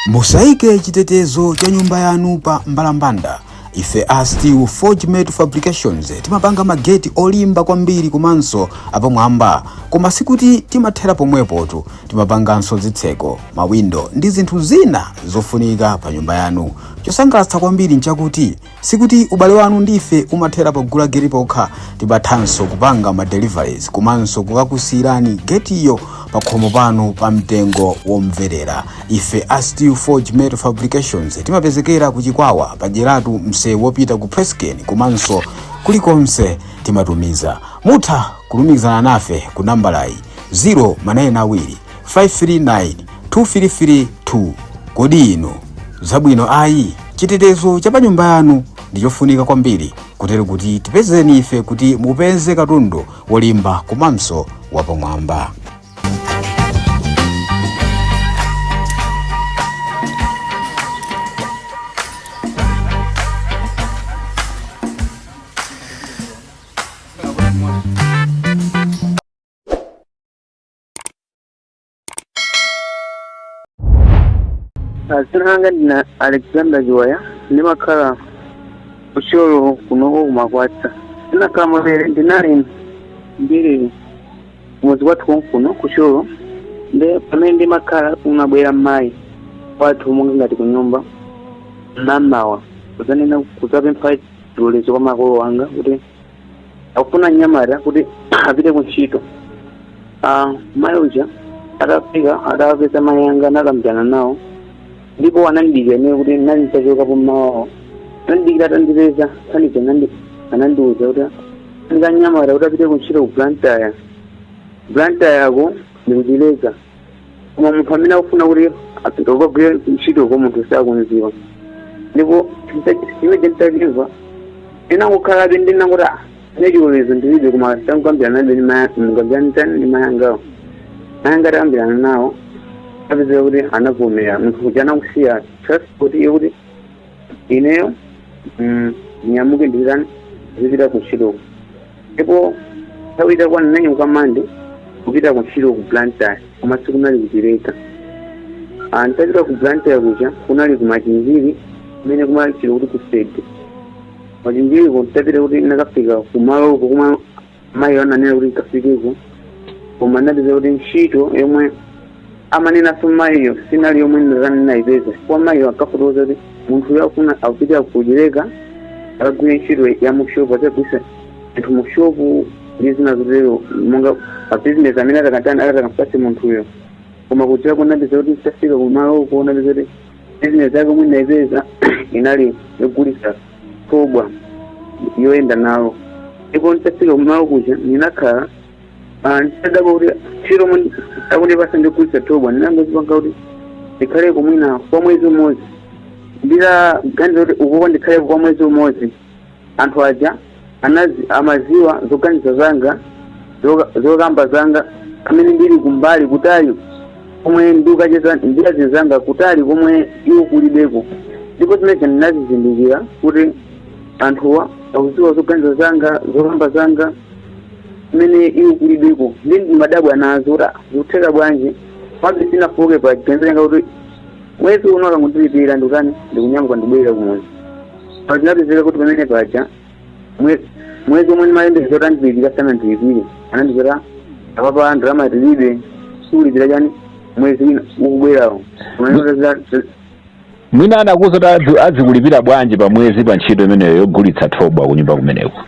musaike chitetezo cha nyumba yanu pa mbalambanda ife a steel forge metal fabrications timapanga mageti olimba kwambiri komanso apamwamba koma sikuti timathera pomwepotu timapanganso zitseko mawindo ndi zinthu zina zofunika pa nyumba yanu chosangalatsa kwambiri nchakuti Sikuti ubale wanu ndi ife umathera pogula geti pokha, timathanso kupanga ma deliveries komanso kukakusirani getiyo pakhomo panu pa mtengo womverera. Ife a Steel Forge Metal Fabrications timapezekera ku Chikwawa pa Dyeratu msewu wopita ku Presscane komanso kulikonse timatumiza. Mutha kulumikizana nafe ku nambalayi 0 manayeni awiri 539 2332 kodi inu zabwino ayi chitetezo cha pa nyumba yanu ndi chofunika kwambiri kutero kuti tipezeni ife kuti mupeze katundu wolimba komanso wapamwamba Ah, dzina langa ndine alexander chiwaya ndimakhala kuthyolo kunoko kumakwatsa ndinakhala motele ndinali ndili mudzi wathu konkuno kuthyolo nde pamene ndimakhala kunabwera mayi wathu monga ngati kunyumba mamawa kudzanena kudzapempha chilolezo kwa makolo anga kuti akufuna mnyamata kuti apite ku ntchito Ah, mayi uja atafika atawapeza mayi anga anakambirana nawo ndipo anandidikira ine kuti nali ntachokapo mmawawo anandidikira atandipeza panija anandi- anandiwuza kuti ndikufuna mnyamata kuti apite ku ntchito ku blantyre blantyre yako ndi kuchileka koma munthu amene akufuna kuti apite kukagwira ntchito kwa munthu sakumziwa ndipo mmene nditamva ndinangokhalabe ndinangoti ah ne chilolezo ndilibe koma tamkambirana nawobe mukambirane ndi mayangawo mayanga atakambirana nawo anapezeka kuti anavomera munthu kuti anakusiya transport iyo kuti ineyo mm, nyamuke ndichitani zipita kuntchitoko ndipo nthawi itakwana ndinanyamuka mande kupita kuntchito ku blantyre koma sikunali kuchileka Ah, nditapita ku blantyre kuja kunali kumachinjiri kumene kumatchula kuti kusede machinjiriko nditapita kuti ndakafika kumaloko komwe mayi ananena kuti ndikafikeko koma ndinapeza kuti ntchito yomwe amanena mayiyo sinali yomwe ndinatani ndinayipeza chifukwa mayiyo ankafotokoza kuti munthu uyo akuna akupita ku Chileka akagwire ntchito ya mushopu atagulitsa anthu mushopu ndi zina zotero monga bizinesi amene atakatani atakampatse munthuyo koma ku Chilekako ndinapeza kuti nditafika kumaloko ndinapeza kuti bizinesi yake omwe ndinayipeza inali yogulisa thobwa yoyenda nalo ndipo nditafika kumalo kuja ndinakhala nditadabwa kuti ntchito yomwe akundipasa ndi yogulitsa thobwa ndinangozipanga kuti ndikhaleko mwina kwa mwezi umodzi nditaganiza kuti ukuko ndikhaleko kwa mwezi umodzi anthu aja anazi, amaziwa zoganiza zanga zoka- zokamba zanga amene ndili kumbali kutali komwe ndikucheza ndi anzanga kutali komwe iwo kulibeko ndipo zimenezo ndinazizindikira kuti anthuwa akuziwa zoganiza zanga zokamba zanga mmene iwo kulibeko ndi ndimadabwa nazo kuti zikutheka bwanji komabe sinafooke pa chiganizo changa kuti mwezi uno akangondilipira ndikutani ndikunyamuka ndibwerere kumudzi pa zinapezeka kuti pamene paja mwe- mwezi omwe ndimayembekeza kuti andilipira sanandilipire anandiuza apapa ndalama tilibe tikulipira chani mwezi wina ukubwerawo mwina anakuuza kuti adzikulipira bwanji pa mwezi pa ntchito imeneyo yogulitsa thobwa kunyumba kumeneko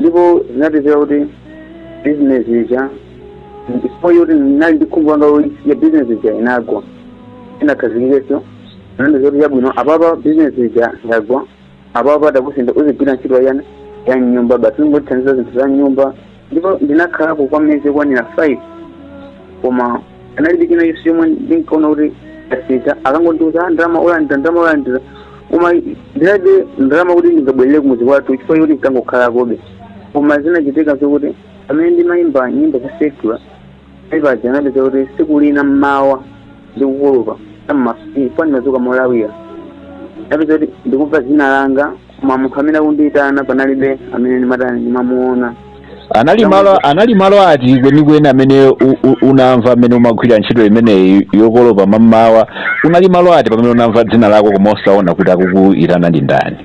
ndipo zinapezeka kuti bizinesi ija ndipo yoti ndinali ndi khumbo langa loti ya bizinesi ija inagwa inakhazikikenso anandiuza kuti yabwino apapa bizinesi ija yagwa apapa takusintha uzigwira ntchito yani ya m'nyumba basi kungotithandiza zinthu za m'nyumba ndipo ndinakhalako kwa miyezi yokwanira five koma panalibe chinachilichonse chomwe ndinkaona kuti achita ankangondiuza ndalama olandira ndalama olandira koma ndinalibe ndalama kuti ndingabwerere kumudzi kwathu chifukwa choti ndinkangokhalakobe koma zinachitika zokuti pamene ndimayimba nyimbo za secular paja ndinapeza kuti siku lina mmawa ndikukolopa mmawa ndimazuka molawira ndinapeza kuti ndikumva zina langa koma munthu amene akundiyitana panalibe amene ndimatani ndimamuona anali malo anali malo ati kwenikweni amene u- u- unamva amene umagwira ntchito imeneyi yokolopa mamawa unali malo ati pamene unamva dzina lako koma osaona kuti akukuyitana ndi ndani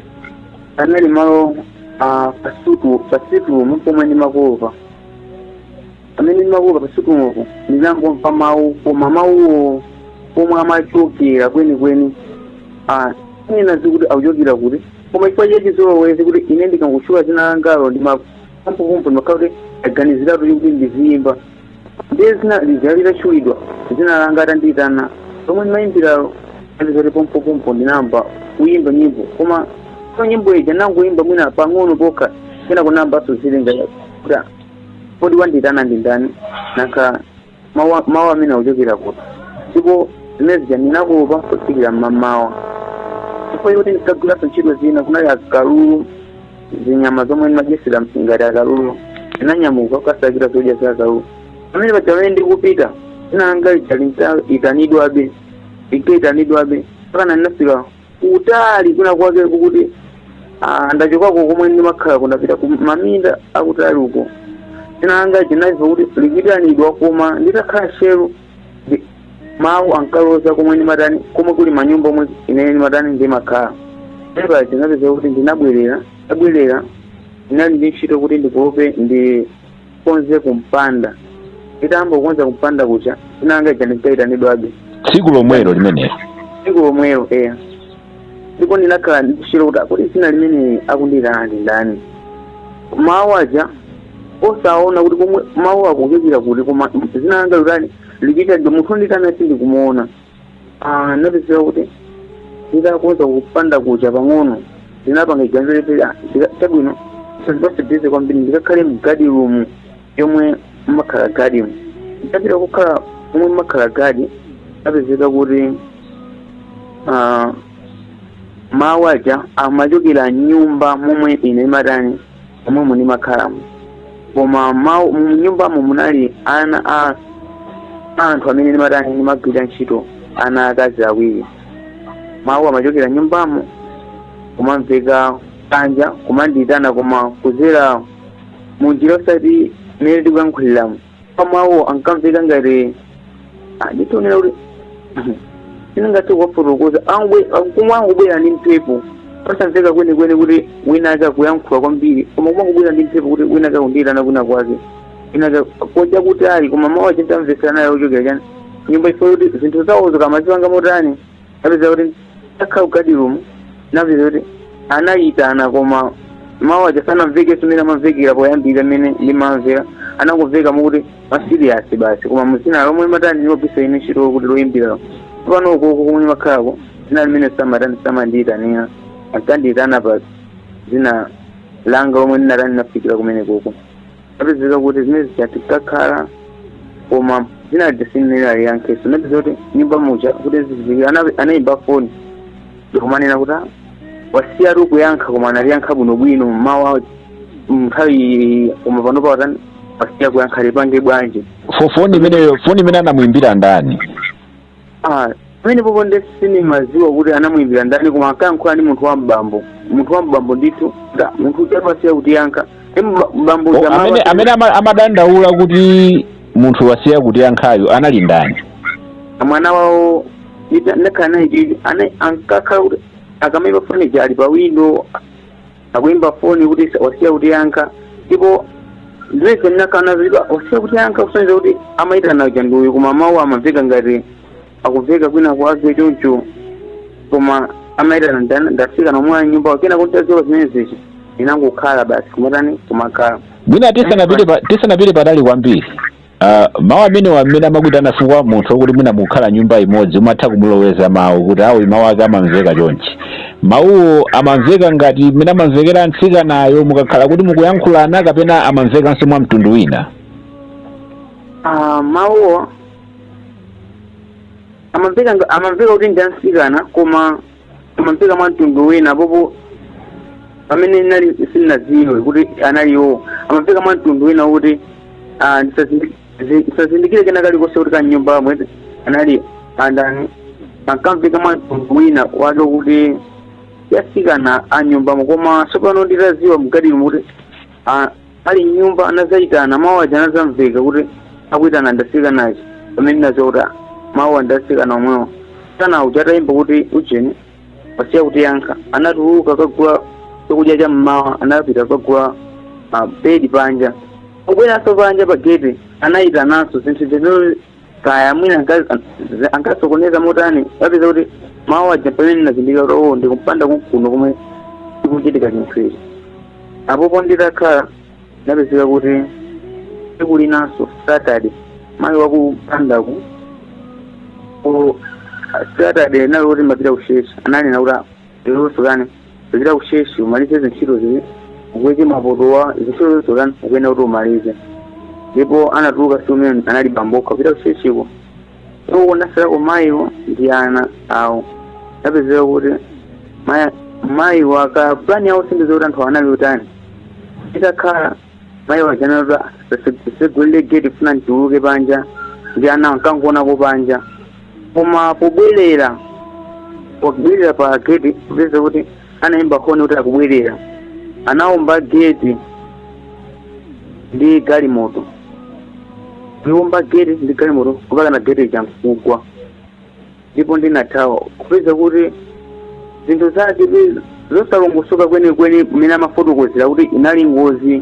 anali malo ah, pa sitting pa sitting room pomwe ndimakolopa pamene ndimakolopa pa sitting roompo ndinangomva mawu koma mawuwo pomwe amachokera kwenikweni sinaziwe kuti akuchokera kuti koma chifukwa cha chizolowezi kuti ine akangotchula zina langalo pompopompo ndimakhala kuti aganiziratu kuti ndiziyimba ndiye zina lija litatchulidwa zina langa atandiyitana lomwe ndimayimbiralo zinali zoti pompopompo ndinayamba kuyimba nyimbo komanso nyimbo ija nangoyimba mwina pang'ono pokha kenako anayambanso zilinga kuti kodi wandiyitana ndi ndani nanga mawu a- mawu amene akuchokera kuti ndipo zimene zija ndinakolopa kufikira mmamawa chifukwa choti ndinkagwiranso ntchito zina kunali akalulu zinyama zomwe ndimadyetsera ngati akalulu ndinanyamuka kukasakira zodya za akalulu pamene paja pamene ndikupita dzina langa lija linkaitanidwabe linkaitanidwabe mpaka ndinafika kutali kwina kwake kokuti ah, ndachokako komwe ndimakhalaku ndapita ku maminda akutali uko dzina langa ndinalimva kuti likuitanidwa koma nditakhala tcheru ndi- mawu ankaloza komwe ndimatani komwe kuli manyumba omwe inene ndimatani ndimakhala epa ndinapeza kuti ndinabwerera ndabwerera ndinali ndi ntchito kuti ndikolope ndi ndikonze kumpanda nditayamba kukonza kumpanda kuja dzina langa lija linkayitanidwabe tsiku lomwelo limenelo tsiku lomwelo eya ndipo ndinakhala ndikushira kuti kodi dzina limene akundiyitana ndi ndani mawu aja osaona kuti komwe mawu akuchokera kuti koma dzina langa likutani likuitanidwa munthu wondiitana sindikumuona Ah, ndinapezeka kuti nditakonza kumpanda kuja pang'ono ndinapanga chiganizo choti ah, ndika- chabwino sindipase bize kwambiri ndikakhale mgadi rumu yomwe mmakhala gadi mu nditapita kukhala momwe mmakhala gadi ndapezeka kuti ah, mawu aja amachokera mnyumba momwe ine ndimatani momwemo ndimakhalamo koma mu nyumbamo munali ana a a anthu amene ndimatani ndimagwira ntchito ana akazi awiri mawu amachokera mnyumbamo kumamveka panja kumandiyitana koma kuzera munjira osati mmene tikuyankhuliramo pamawu ankamveka ngati anditonera kuti sindingathe kuwafotokoza koma amangobwera ndi mphepo osamveka kwenikweni kuti wina ake akuyankhula kwambiri koma amangobwera ndi mphepo kuti wina ake akundiyitana kwina kwake inaka koja kutali koma mawu aja nditamvetsera naye ochokera chani nyumba ife kuti zinthu zawozo kaya amazipanga motani napeza kuti nditakhala kugadi rumu napeza kuti anayitana koma mawu aja sanamvekenso mmene amamvekera poyambira mmene ndimamvera anangomveka mokuti masiriyasi basi koma mu dzina lomwe ndimatani lopisa ine ntchito kuti loyimbira pano ukoko komwe ndimakhalako dzina limene samatani samandiyitanira ankandiyitana pa dzina langa lomwe ndinatani nafikira kumene koko Napezeka kuti zimene zija nditakhala koma dzina lija sindinaliyankhenso napeza kuti nyumba muja kuti ziziki anayimba foni ndikumanena kuti "Ah, wasiyatu kuyankha koma analiyankha bwinobwino mmawa nthawi koma panopa watani wasiya kuyankha tipange bwanji Fo- foni imeneyo foni imene anamuimbira ndani Ah, pamenepopo nde sindimaziwa kuti anamuimbira ndani koma ankayankhula ndi munthu wa mbambo munthu wa mbambo ndithu da munthu uja amasiya kutiyankha ndi mba- mbambo uja amene amaba- amene ama- amadandaula kuti munthu wasiya kutiyankhayo anali ndani mwana wawo ndita- ndakhala naye chichi ana- ankakhala kuti akamaimba foni ija ali pa windo akuimba foni kuti wasiya kutiyankha ndipo ndimene ndinakhala nazo wasiya kutiyankha kusonyeza kuti amayitana uja ndi uyu koma mawu amamveka ngati akumveka kwina kwake choncho koma amayitana ndana- ndafika momwe nyumbamo kenako nditaziwa zimenezi inangokhala basi kumatani kumakhala mwina tisanapite pa- tisanapite patali kwambiri Uh, mawu amenewa mmene amakuitana chifukwa munthu wokuti mwina mukukhala nyumba imodzi umatha kumuloweza mawu kuti awo mawu ake amamveka chonchi mawuwo amamveka ngati mmene amamvekera mtsikanayo mukakhala kuti mukuyankhulana kapena amamvekanso mwa mtundu wina Ah, mawuwo amamveka nga- amamveka kuti ndi amsikana koma amamveka mwa mtundu wina popo pamene nali ndisanadziwe kuti anali iwo amamveka mwa mtundu wina kuti ah, ndisazindi- zi- ndisazindikire kena kalikonse kuti kanyumbamo anali andani ankamveka mwa mtundu wina wake kuti ya atsikana anyumbamo koma tsopano nditadziwa mkatimo kuti ah, ali mnyumba anazayitana mawu aja anazamveka kuti akuyitana ndi atsikana aja pamene ndinaziwa kuti ah, mawu ndi atsikana omwewo tsikana uja atayimba kuti ujeni wasiya kutiyankha anatuluka kagula chakudya cha mmawa anapita kagula buledi panja pobweranso panja pa gate anayitananso zinthu zimene kaya mwina anka- an- ankasokoneza motani napezeka kuti mawu aja pamene nazindikira kuti oo ndikumpanda kuno komwe chikuchitika chinthu ichi apopo nditakhala napezeka kuti tsiku linanso saturday mayi wakumpandaku saturday nali kuti mapita kutchetchi ananena kuti lero usakane kupita kutchetchi umalize zintchito zili ukweke mapotowa zintchito zonse utani ukuyenera kuti umalize ndipo anatuluka tsiku limene anali bambokha kupita kutchetchiko iwo anasalako mayiwo ndi ana awo napezeka kuti maya- mayiwo aka pulani yawo sindiziwa kuti anthu anali utani itakhala mayi aja anati ndisegulire geti funa ndituluke panja ndi ana akangonako panja koma pobwerera pobwerera pa geti kupeza kuti anayimba honi kuti akubwerera anawomba geti ndi galimoto ndiwomba geti ndi galimoto mpaka na geti ija nkugwa ndipo ndinathawa kupeza kuti zinthu zake zosalongosoka kwenikweni mmene amafotokozera kuti inali ngozi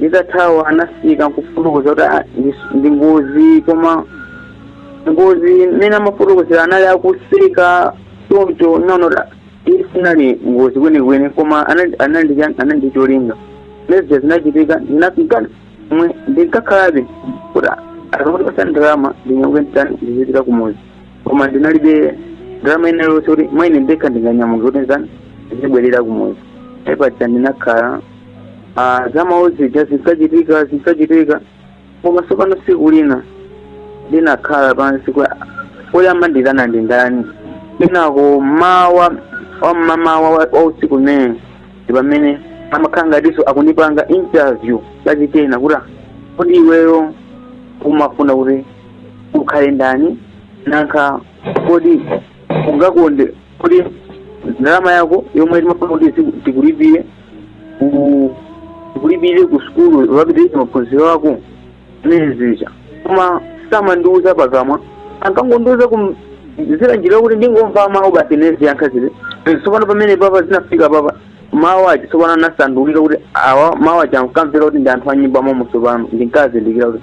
nditathawa anafika nkufotokoza kuti "Ah, ndi- ndi ngozi koma ngozi mmene amafotokozera anali akuseka choncho ndinati isinali ngozi kwenikweni koma anali- anali cha- anali ndi cholinga lezija zinachitika ndinafika mwe ndinkhalabe kuti andipatsa ndalama ndinyamuke nditani ndizipita kumuzi koma ndinalibe ndalama ina iliyonse kuti mwina ndekha ndinganyamuka kuti nditani ndizibwerera kumuzi apa paja ndinakhala ah, za mmawu zija zinkachitika zinkachitika koma tsopano tsiku lina ndinakhala pansi kodi amanditana ndi ndani kenako mawa wa m'mamawa wa wa usiku umene ndi pamene amakhala ngatinso akundipanga interview kachikena kuti "Ah, kodi iweyo umafuna kuti ukhale ndani nanga kodi ungakonde kodi ndalama yako yomwe timafuna kuti tikulipire ku- kulipire ku sukulu ukapitirize maphunziro ako zimene zija koma samandiuza pakamwa ankangondiuza kudzera njira kuti ndingomva mawu basi ndiziyankha zija tsopano pamenepapa zinafika apapa mawu aja tsopano anasandulika kuti awa mawu aja ankamveka kuti ndi anthu a m'nyumba momo tsopano ndinkazindikira kuti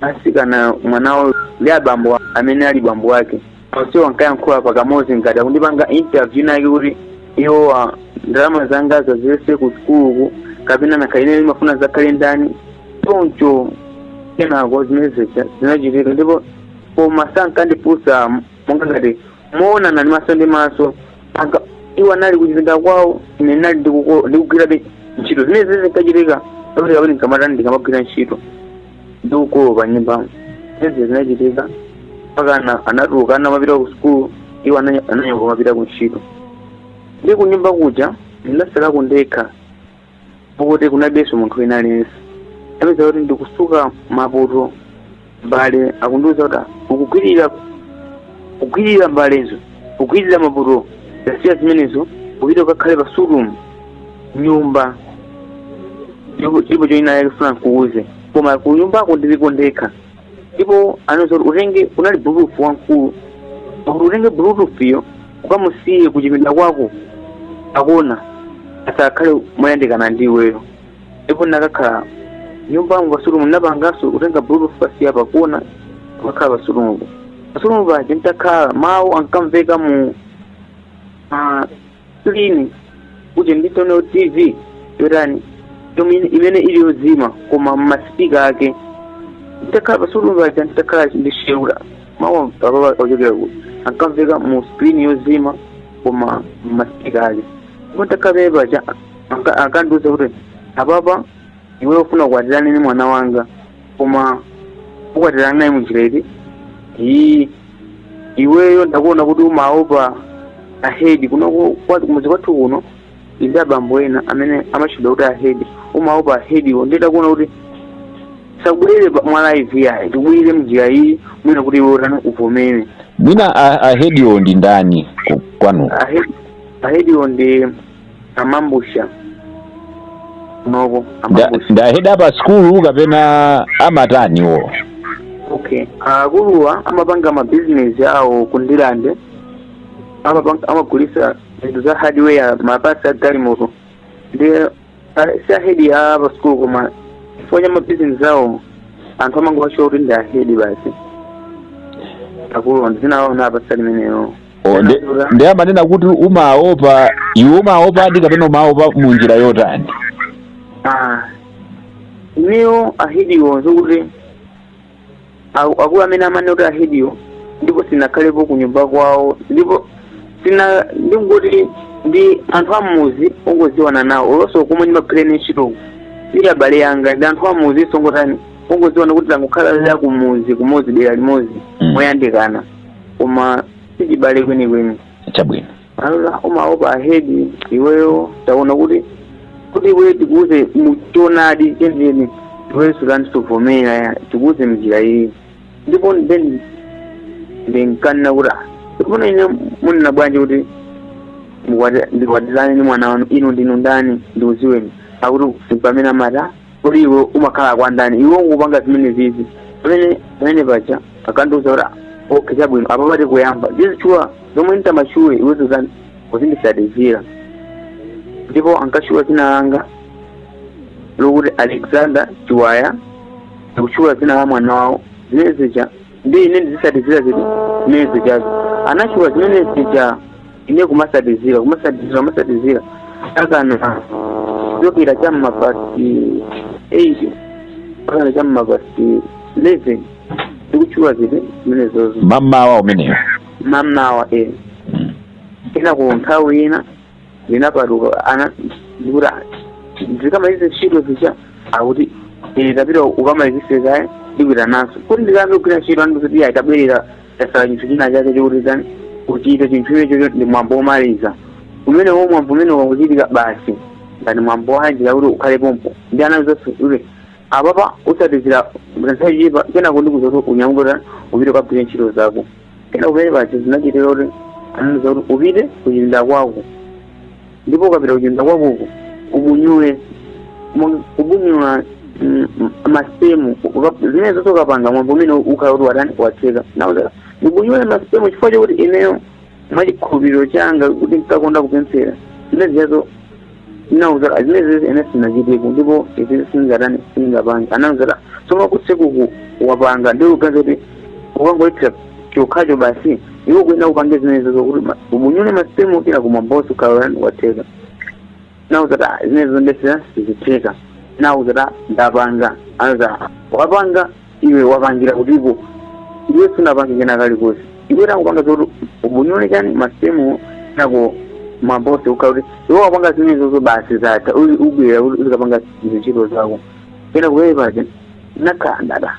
atsikana mwanawo ndi abambo a- amene ali bambo wake onsewo ankayankhula pakamodzi ngati akundipanga interview ina yake kuti iwowo ndalama zanga za fizi ku sukuluku kapena ntakhala ine ndimafuna ndidzakhale ndani choncho kenako zimene zija zinachitika ndipo koma sankandifunsa monga ngati moonana ndi maso ndi maso mpaka iwo anali kuchipinda kwawo ine ndinali ndikuko- ndikugwirabe ntchito zimene zimene zinkachitika kuti kapena ndikamatani ndikamagwira ntchito ndikukolopa m'nyumbamo zimene zinachitika mpaka ana- anatuluka ana amapita ku sukulu iwo ananya- ananyamuka amapita ku ntchito ndi kunyumba kuja ndinasalako ndekha pokuti kunalibenso munthu wina aliyense ndinapeza kuti ndikutsuka mapoto mbale akundiuza kuti "Ah, ukugwirira kugwirira mbalezo kugwirira mapoto tasiya zimenezo upite ukakhale pa sitting room m'nyumba chilipo china ndikufuna nkuuze koma kunyumbako ndiliko ndekha ndipo anandiuza kuti utenge unali bluetooth wamkulu akuti utenge bluetooth-yo ukamusiye kuchipinda kwako pakona asakhale moyandikana ndi iweyo ndipo ukakhale m'nyumbamo pa sitting room ndinapanganso kutenga bluetooth kukasiya pakona kukakhala pa sitting room pa sitting room paja ntakhala mawu ankamveka mu ah, screen kuti nditani tv yotani yomwe- imene ili yozima koma m'masipika ake nditakhala pa sitting room paja nditakhala ndinaona kuti mawu apapa akuchokera kuti ankamveka mu screen yozima koma m'masipika ake ndipo nditakhala phee paja anka- ankandiuza kuti apapa iwe ufuna kukwatirana ndi mwana wanga koma ukwatirana naye munjira iyi iweyo ndakuona kuti umaopa ahedi kuno kumudzi kwathu kuno ndi abambo ena amene amatchedwa kuti ahedi umaopa ahediwo ndiye ndakuona kuti sakubwerere mwa live yayi tikubwerere mnjira iyi mwina kuti iwe utani uvomere mwina ahediwo ndi ndani kwanu ahediwo ndi amambusha nobo amambusha ndi ahedi a pa sikulu kapena amatani iwo okay akuluwa amapanga mabizinesi awo kundilande amagulisa zinthu za hardware mapatsi a galimoto ndiye si ahedi a pa sikulu koma chifukwa cha mabizinesi awo anthu amangowatchula kuti ndi ahedi basi akuluwa sindinaonanawo apatsa limenelo O, ndiye amanena kuti umaopa iwe umaopadi kapena umaopa mu njira yotani Ah, ineyo ahediwo nzokuti aku- akulu amene amanena kuti ahediwo ndipo sindinakhalepo ku nyumba kwawo ndipo sina ndingoti ndi anthu a m'mudzi ongodziwana nawo olo nso komwe ndimagwira ntchito ndi abale anga ndi anthu a m'mudzi ongotani ongodziwana kuti tangokhala za kumudzi kumodzi dera limodzi Mm. moyandikana koma sichibale kwenikweni chabwino alola umaopa ahedi iweyo taona kuti kuti iweyo tikuuze mu choonadi chenicheni iweyo sutani suvomera tikuuze mnjira iyi ndipo then ndinkanena kuti "Ah, tsopano ine munena bwanji kuti mukwati- ndikwatirane ndi mwana wanu inu ndinu ndani ndiuzeni akuti mpamene amati "Ah, kodi iwe umakhala kwa ndani iwe ungopanga zimene zizi pamene paja anandiuza kuti okay chabwino apa pakuti uyamba kutchula zomwe nditamatchule iwe uzitani uzinditsatizira ndipo ankatchula dzina langa lokuti alexander chiwaya ndikutchula dzina la mwana wawo zimene zija ndi ine ndizitsatizira zinthu zimene zijazo anatchula zimene zija ine kumatsatizira kumatsatizira kumatsatizira mpakana kuchokera cha m'ma past eight mpakana cha m'ma past eleven ndikutchula zinthu zimenezozo mamawa umeneyo mamawa e kenako nthawi ina ndinapatuka ana ndikuti ndikamalize ntchito zija akuti iyayi tapita ukamalizitse kaye ndikupitanso kuti ndikayambe kugwira ntchito anandiuza kuti iyayi tabwerera tatsala chinthu china chake chokuti tani kuchita chinthu imenecho ndi mwambo womaliza umenewo mwambo umene wakuchitika basi ngati mwambo wanji wakuti ukhale pompo ndi ana zonse kuti apapa utsatizira nthawi chipa kenako ndikuuza kuti unyamuke kuti upite ukagwire ntchito zako kenako mmene paja zinachitira kuti anandiuza kuti upite kuchipinda kwako ndipo ukapita kuchipinda kwakoko ubunyule Mo- kubunyula mm, mm, masipemu Uka- zimene zonse ukapanga mwambo umene ukhala kuti watani watheka nauza ndibunyule masipemu chifukwa chakuti ineyo mwachikhulupiriro changa kuti ndikakonda kupemphera zimene zijazo nauza zimene zizi ine sinachiteko ndipo izi singatani singapange anauza tsono kutsekuku wapanga ndi uganza kuti ukangoyithira chokhacho basi iwe ukuyenera upange zimenezo zokuti ma- ubunyule masipemu kenako mwambo uzikhala watheka nawauza kuti "Ah, zimenezo zondesera sizitheka nawauza kuti "Ah, ndapanga anza wapanga iwe wapangira kutipo iwe sunapange kena kalikonse iwe tangopanga zokuti ubunyule chani masipemu kenako mwambo uzikhala kuti iwe wapanga zimenezozo basi zatha uli ubwera uli- uzikapanga zintchito zako kena kuwepaje nakhandada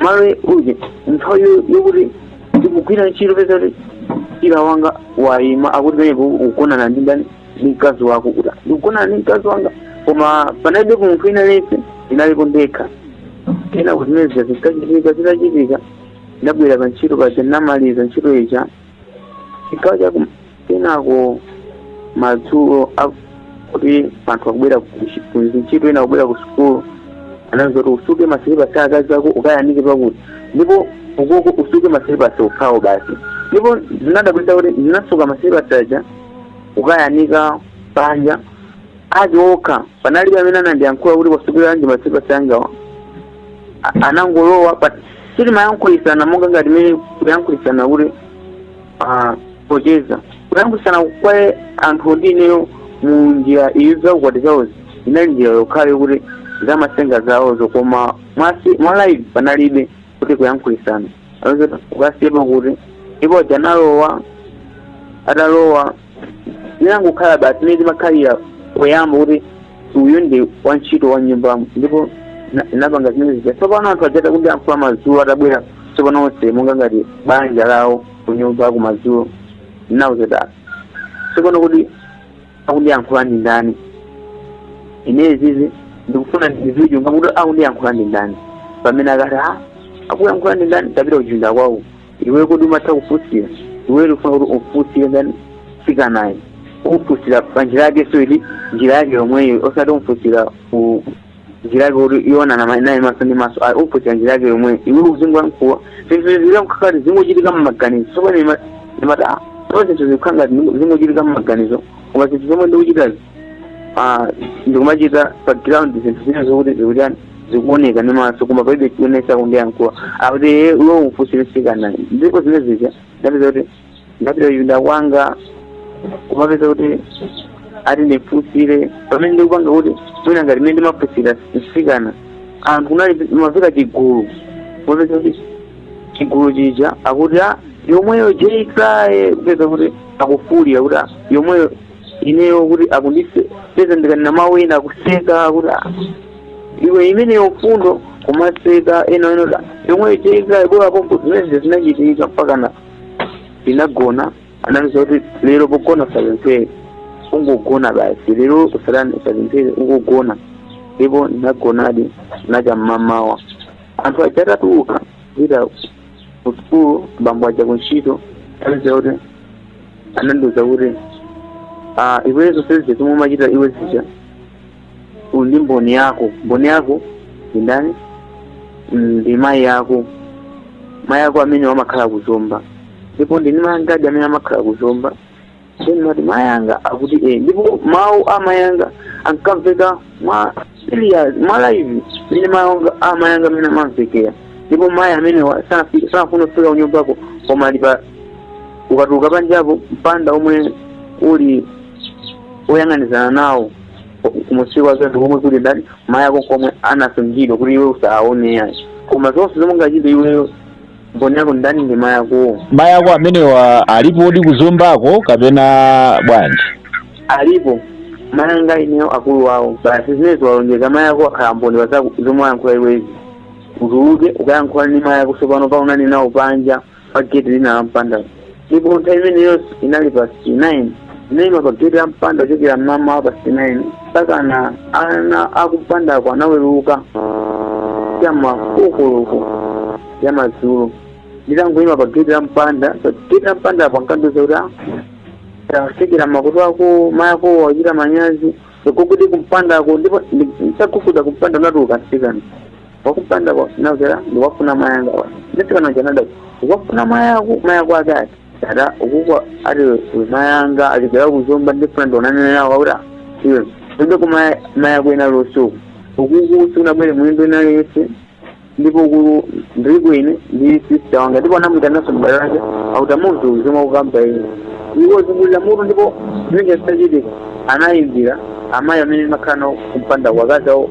malo uje nthawi yo- yokuti ndikugwira ntchito peza kuti mchira wanga wayima akuti pamenepo ukugonana ndi ndani ndi mkazi wako kuti ndikugonana ndi mkazi wanga koma panalibe munthu wina aliyense ndinalipo ndekha kenako zimene zija zikachitika zitachitika ndabwera pa ntchito paja ndinamaliza ntchito ija chigawo cha kenako madzulo kuti anthu akubwera kuntchito ena akubwera ku sukulu anandiuza kuti usuke masilipasi a akazi ako ukayanike pakuti ndipo ukuko usuke masilipasi okhawo basi ndipo zinadabwitsa kuti ndinasuka masilipasi aja kukayanika panja ake okha panalibe amene anandiyankhula kuti wasukiranji masilipasi angawa A- anangolowa basi sitimayankhulitsana monga ngati mene kuyankhulitsana kuti ah, pocheza kuyankhulitsana kwa anthu ndi ineyo mu njira iyo zaukwati zawozi inali njira yokhayo kuti zamatsenga zawozo koma mwasi- mwa live panalibe kuti kuyankhulitsana ukasiyepo kuti ndipo aja analowa atalowa zinangokhala basi mmene zimakhalira poyamba kuti uyu ndi wantchito wa nyumbamo ndipo na- napanga zimene zija tsopano anthu aja ata- kundiyankhula madzulo atabwera tsopano onse monga ngati banja lawo kunyumbako madzulo nawuzeta tsopano kuti akundiyankhula ndi ndani ine zizi ndikufuna ndidziwe kuti akundiyankhula ndi ndani pamene akati a akuyankhula ndi ndani tapita kuchipinda kwawo iwe kodi umatha kufunsira iwe ukufuna kuti ufunsire ndani mtsikanayu umfunsira pa njira yake so ili njira yake yomweyo osati umfunsira ku njira yake kuti uwonana ma- naye maso ndi maso ayi umfunsira njira yake yomweyo iwe uzingwa mkuwa zinthu zikukhala ngati zingochitika mmaganizo sopano imati ah so zinthu zikukhala ngati zingochitika mmaganizo koma zinthu zomwe ndikuchitazi ah, ndikumachita pa ground zinthu zina zokuti zikutani zikuoneka ndi maso koma palibe chionesa kundiyankhula akuti iweyo umfunsire mtsikana ndipo zimene zija ndapeza kuti ndapita kuchipinda kwanga kumapeza kuti ati ndimfunsire pamene ndikupanga kuti mwina ngati mene ndimafunsira mtsikana anthu kunali mafika chigulu kumapeza kuti chigulu chija akuti a yomweyo jeikraye kupeza kuti akufulira kuti a yomweyo ineyo kuti akundipeza ndikanena mawu ena akuseka kuti "Ah, iwe imeneyo mfundo kumaseka ena ena da yomwe ichitika ibwera pompo zimene zinachitika mpakana ndinagona anandiuza kuti lero pogona usapemphere ungogona basi lero usatani usapemphere ungogona ndipo ndinagonadi nacha mmamawa anthu aja atatuluka kupita kusukulu bambo aja kuntchito anandiuza kuti anandiuza kuti ah, iwe zonse zija zomwe umachita iwe zija uli ndi mboni yako mboni yako ndi ndani Mm, ndi mayi ako mayi ako amene amakhala ku Zomba ndipo ndili ndi mayi angadi amene amakhala ku Zomba nde ndimati mayi anga akuti eh ndipo mawu a mayi anga ankamveka mwa serious mwa live mene mayanga amayanga mene amamvekera ndipo mayi amenewa sanafi- sanafuna kufika kunyumbako koma ali pa ukatuluka panjapo mpanda omwe uli oyang'anizana nawo kumusi kwake ndi komwe kuli ndani mayi ako komwe anasungidwa kuti iwe usaone yayi koma zonse zomwe ungachite iweyo mboni yako ndani ndi mayi akowo mayi ako amenewa alipodi ku Zombako kapena bwanji alipo mayanga ineyo akulu wawo basi zimenezo walonjeza mayi ako akhala mboni wa zomwe wayankhula iwezi utuluke ukayankhule ndi mayi ako tsopano kaonane nawo panja pa geti lina la mpandawo ndipo nthawi imeneyo inali past 9 ndinaima pa geti la mpanda kuchokera mmamawa past 9 mpakana ana akumpandako anaweruka cha mma 4 koloko ya madzulo nditangoima pa geti la mpanda pa geti la mpanda apo ankandiuza kuti "Ah, tatsekera makutu ako mayako wachita manyazi ugogode kumpandako ndipo nditagogoda kumpanda kunatuluka mtsikana wakumpandako nakera ndiwafuna mayanga wa nditikana chanada ukafuna mayako mayako ake ati dada ukukwa ati we mayanga achokera ku Zomba ndifuna ndionane nawo auta iwe inde ku maya- mayako ena losuku ukuku sikunabwere mlendo wina aliyense ndipo uku ndiliko ine ndi sista wanga ndipo anamuitanaso mbale wake auta munthu uzima kukamba ine iwo zungulira mutu ndipo zimene zitachitika anayimbira amayi amene amakhala nawo kumpanda wakazi awo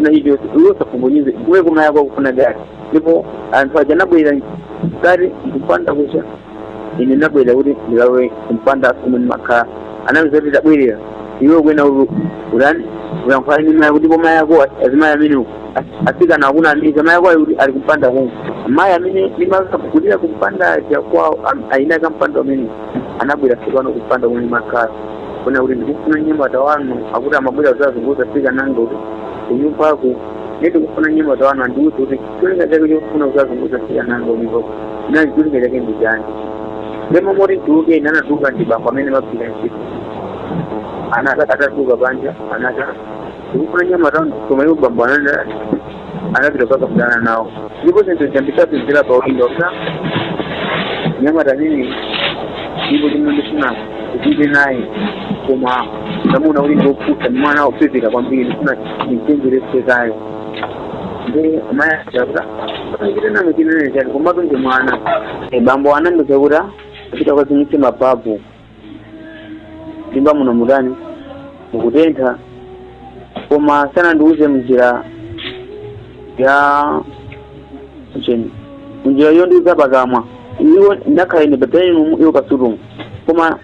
na hivyo iwe usapunguze iwe kumayi ako akufuna gari ndipo anthu aja anabwera gari kupanda kucha ine nabwera kuti ndilawe kumpanda komwe ndimakhala anandiuza kuti tabwerera iwe kwena ulu ulani uyankhula ndi mayi kuti kumayi ako azimayi amenewo asikana akuna amene mayi ako ali ali kumpanda kumwe mayi amene ndimakulira kumpanda aja kwawo ayinaka mpanda amene anabwera tsopano kumpanda kumene makhala kunena kuti ndikufuna mnyamata wanu akuti amabwera kuzasunguza mtsikana wanga kunyumbaku ndiye ndikufuna mnyamata wanu andiuze kuti cholinga chake chofuna kuzasunguza mtsikana wanga ndipo nali cholinga chake ndi chani ndemo moti ndituluke ine anatuluka ndi bambo amene amapita ntchito anaka atatuluka panja anati ndikufuna mnyamata wanu koma iwo bambo ananda anapita kukakambirana nawo ndipo zinthu zambisapizira pa ulindo za mnyamata nini ndipo chomwe ndifuna ndichite naye koma ndamuna ulingi wopusa mwana wopepera kwambiri ndifuna ndimchenjeretse ameneyo ndi amayi achakuta chitenano chinene chani komatu ndi mwana bambo anandiuza kuti upite ukazimitse mapapu mnyumba muno mutani mukutentha koma sanandiuze mnjira ya chani mnjira yondiuza pakamwa iwo ndakhala ine padayiningi iwo pasitingirumu koma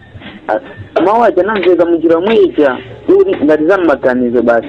a- mawu aja anamveka mnjira yomweija kuti ngati zammaganizo basi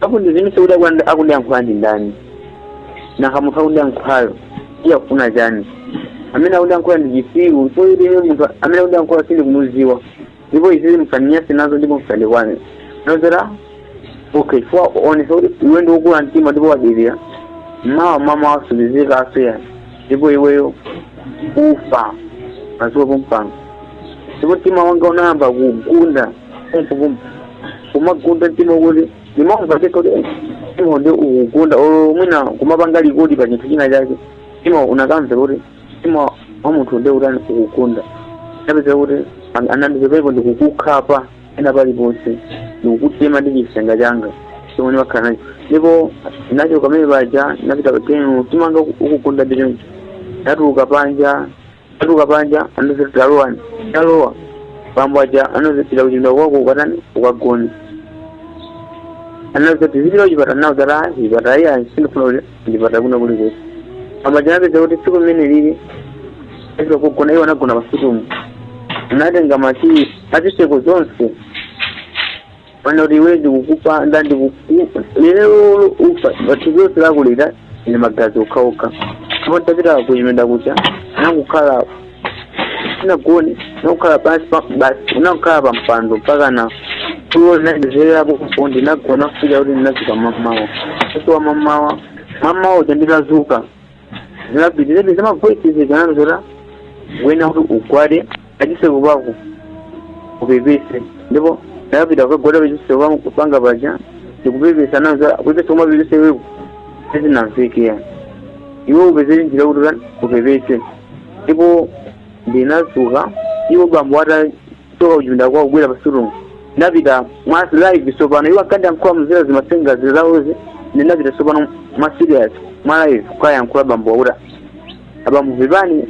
atsimikize kuti akundi- akundiyankhula ndi ndani nanga munthu akundiyankhulayo iye akufuna chani amene akundiyankhula ndi chisiru ndipo ine munthu amene akundiyankhula sindikumudziwa ndipo izizi musandinyanse nazo ndipo musandikwane nozera okay chifukwa waonesa kuti iwe ndi wokula mtima ndipo wadirira mmawa mawa masiku ako atha ndipo iweyo ufa udziwa pompano ndipo mtima wanga unayamba kugunda kumpupumpu kumagunda mtima kuti ndimamva ndekha kuti "Eh, mtima ndi ukugunda olo mwina kumapanga rekodi pa chinthu china chake mtima unakamveka kuti mtima wa munthu ndi utani ukugunda ndinapeza kuti an- anandipepepo ndikukukhapa pena paliponse ndikukutema ndi chisenge changa chomwe ndimakhala nacho ndipo nacho kamene paja napita padayiningi mtima wanga ukugunda ndi choncho ndatuluka panja Ndatuluka panja anandiuza kuti talowa ndalowa bambo aja anati pita kuchipinda kwako ukatani ukagone anati uzipita kuchipinda nawo zata chipata iya sindifuna kuti ndipata kuno kuli kuti bambo aja ndinapeza kuti tsiku limene lili lija kugona iwo anagona pasitingirumu anatenga makiyi azitseko zonse Pano kuti iwe ndikukupanda ndikukupha lero lo- ufa bathu zonse ndakulira ine magazi okhaokha ndipo ntapita kuchipinda kucha nakukhala sinagone nakukhala pansi basi nakukhala pa mpando mpaka na tulo ndinazizerapo kupo ndinagona kufika kuti ndinazuka mamawa kusowa mamawa mamawa uja nditazuka zinapitiriza pita mavoices zinazo zota wina kuti ugwade pachiseko pako upepese ndipo ndakapita kukagwada pachiseko pako kupanga paja ndikupepesa nazo kupepesa koma mapepesedwe ako sizinamvekera iwe upezere njira kuti upepese ndipo ndinazuka iwo bambo ata kuchoka kuchipinda kwawo kubwera pa sitting room ndinapita mwa live tsopano iwo ankandiyankhula muzera zimatsenga zizawozi ndinapita tsopano mwa serious mwa live kukayankhula bambo awa kuti abambo pepani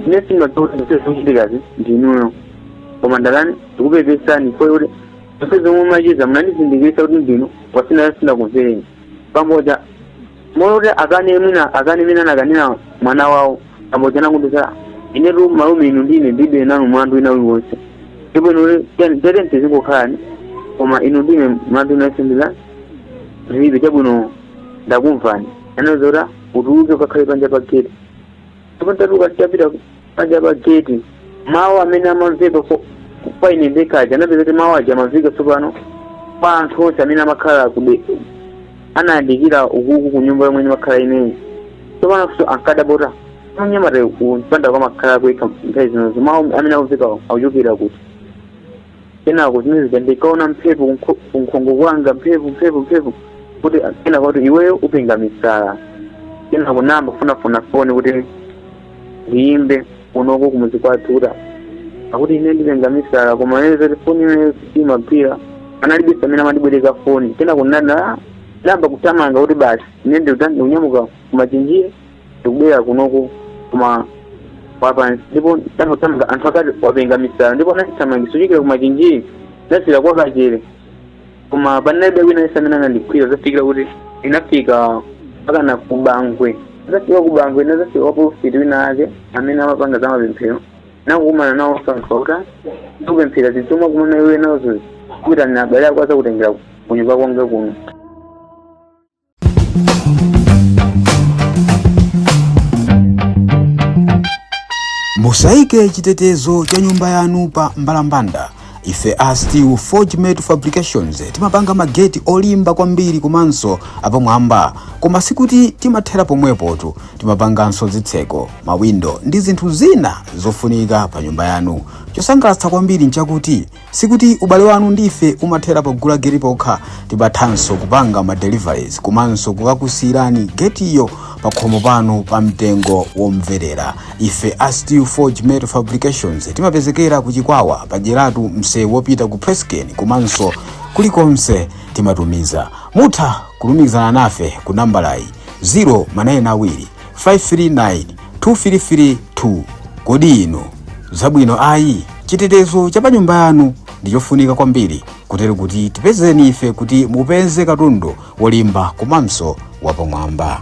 ine simaziwa zochitikazi ndinuyo koma ndalani ndikupepesani foyole zonse zomwe macheza munandizindikirisa kuti ndinu wasina sinakumvereni pamodzi mona kuti akane mwina akane mene anakanira mwana wawo amodzi anakundisa inetu malume inu ndine ndibe nanu mlandu wina uliwonse ndipo inu tete mtizingokhalani koma inu ndine mlandu wina uliwonse ndilibe chabwino ndakumvani anandiuza utuluke ukakhale panja pa gate ndipo ntatuluka nditapita panja pa gate mawu amene amamveka kwa- kwa ine ndekha aja anapeza kuti mawu aja amamveka tsopano kwa anthu onse amene amakhala kude anayandikira ukuku ku nyumba yomwe ndimakhala ineyi tsopano funso ankadabwa kuti mnyamatayu kumpandaku amakhala yekha nthawi zinozo mawu amene akumveka akuchokera kuti kenako zimene zija ndikaona mphepo kunkho- kunkhongo kwanga mphepo mphepo mphepo kuti kenako kuti iweyo upenga misala kenako nayamba kufunafuna foni kuti ndiyimbe kunoko kumuzi kwathu kuti akuti ine ndipenga misala koma ine zoti foni imeneyo imagwira panalibe amene amandibwereka foni kenako ndinayamba kuthamanga kuti basi ine ndikunyamuka kumachinjiri ndikubwera kunoku koma wapansi ndipo ndangothamanga anthu akati wapenga misala ndipo anandithamangisa kuchokera kumachinjiri ndazera kwa kachere koma panalibe wina aliyense amene anandigwira zafikira kuti ndinafika mpaka na kubangwe ndafika kubangwe ndazafika kwa polofiti wina ake amene amapanga za mapemphero nakukumana nawo anthu akuta ndikupemphera zinthu zomwe wakumana iwe nazo kuitanira abale ako azakutengera kunyumba kwanga kuno musaike chitetezo cha nyumba yanu pa mbalambanda ife a steel forgemet fabrications timapanga mageti olimba kwambiri komanso apamwamba koma sikuti timathera pomwepotu timapanganso zitseko mawindo ndi zinthu zina zofunika pa nyumba yanu chosangalatsa kwambiri nchakuti Sikuti ubale wanu ndi ife umathera pogula geti pokha, timathanso kupanga ma deliveries komanso kukakusirani getiyo pakhomo panu pa mtengo womverera. Ife a Steel Forge Metal Fabrications timapezekera ku Chikwawa pa Dyeratu msewu wopita ku Presscane komanso kulikonse timatumiza. Mutha kulumikizana nafe ku nambalayi 0 manayeni awiri 539-2332 Kodi inu zabwino ayi? Chitetezo cha pa nyumba yanu ndi chofunika kwambiri kotero kuti tipezeni ife kuti mupeze katundu wolimba komanso wapamwamba.